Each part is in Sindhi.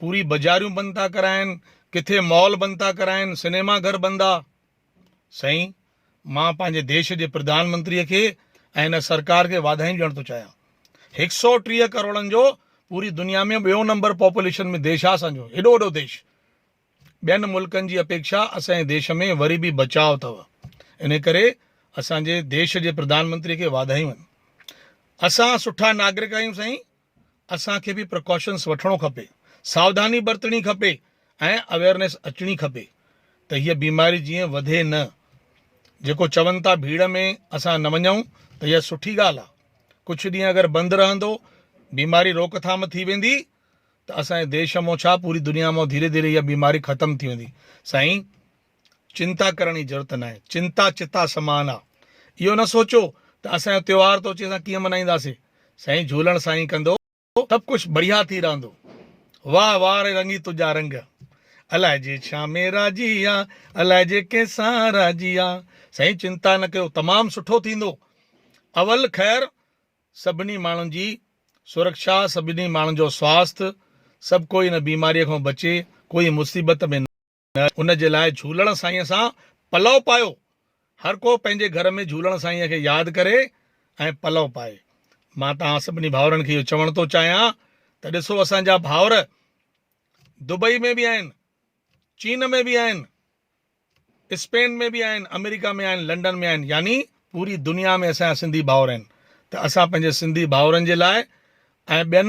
پوري بزاريون بند ٿا ڪرائين ڪٿي مال بند ٿا ڪرائين سنيما گهر بند آ سائين مان پنهنجي ديش جي پردان منتري کي ۽ هن سرڪار کي واڌايون ڏيڻ ٿو چاهيان هڪ سئو ٽيهه ڪروڙن جو پوري دنيا ۾ ٻيو نمبر پاپوليشن ۾ ديش آ اسان جو ايڏو وڏو ديش ٻين ملڪن جي اپيڪشا اسان جي ديش ۾ وري به بچاء اٿو ان ڪري اسان جي ديش جي پردان منتري کي واڌايون آهن اسان سٺا ناگرڪ آهيون سائين اسان کي به پرڪاشنس وٺڻو کپي، ساوڌاني برتڻي کپي ۽ اويئرنيس اچڻي کپي ته هيء بيماري جيئن وڌي نه. جيڪو چون ٿا ڀيڙ ۾ اسان نه وڃون ته اها سٺي ڳالهه آهي. ڪجهه ڏينهن اگر بند رهندو، بيماري روڪ ٿام ٿي ويندي ته اسان جي ديش مون ڇا پوري دنيا مون ڌيري ڌيري اها بيماري ختم ٿي ويندي. سائين! چنتا ڪرڻ جي ضرورت ناهي، چنتا چتا سمان آ. اهو نه سوچو ته اسان جو تيوهار تو اچي اسان ڪيئن منائينداسين. سائين جهولڻ سائين ڪندو سڀ ڪجھ بڙيا ٿي رهندو. واهه واهه ري رنگي تنهنجا رنگ. الائي جي ڇا ۾ راضي آ، الائي جي ڪنهن سان راضي آ. سائين چنتا نه ڪيو تمام سٺو ٿيندو. اول خير سڀني ماڻهن جي سرکشا، سڀني ماڻهن جو سواست، سڀ ڪوئي ان بيماريء کان بچي، ڪوئي مصيبت ۾ نه. ان جي لاء جهولڻ سائينء سان پلئو پايو. هر ڪو پنهنجي گهر ۾ جهولڻ سائينء کي ياد ڪري ۽ پلئو پائي. مان توهان سڀني ڀائرن کي اهو چوڻ ٿو چاهيان ته ڏسو اسان جا ڀائر دبئي ۾ به آهن، چين ۾ به آهن، اسپين ۾ به آهن، آمريڪا ۾ آهن، لنڊن ۾ آهن يعني پوري دنيا ۾ اسان جا سنڌي ڀائر آهن ته اسان پنهنجي سنڌي ڀائرن جي لاء ۽ ٻين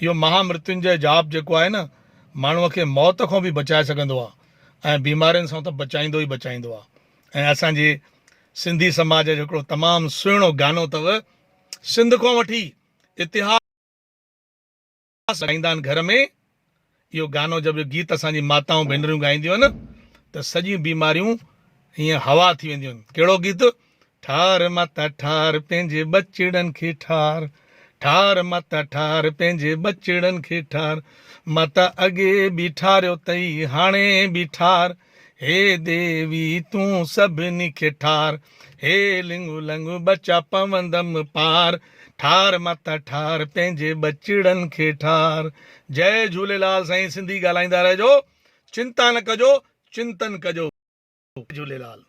اهو مها مرتينجئه جاپ جيڪو آهي نه ماڻهوء کي موت کان به بچائي سگهندو آهي ۽ بيمارين سان ته بچائيندو ئي بچائيندو آهي ۽ اسان جي سنڌي سماج جو هڪڙو تمام سهڻو گانو اٿو سنڌ کان وٺي اتهاس ڳائيندا آهن گهر ۾ اهو گانو جب جو گيت اسان جي ماتائون ڀينريون ڳائينديون آهن ته سڄيون بيماريون هيئن هوا ٿي وينديون آهن ڪهڙو گيت ٺار ماتا ٺار پنهنجي ٻچڙن کي ٺار ٺار ماتا ٺار پنهنجي ٻچڙن کي ٺار ماتا اڳي به ٺاريو اٿئي هاڻي به ٺار هي ديوي تون سڀني کي ٺار، هي لڱ لڱ ٻچا پوندم پار، ٺار ماتا ٺار پنهنجي ٻچڙن کي ٺار. جئي جهوليلال سائين سنڌي ڳالهائيندا رهجو چنتا نه ڪجو چنتن ڪجو جئي جهوليلال.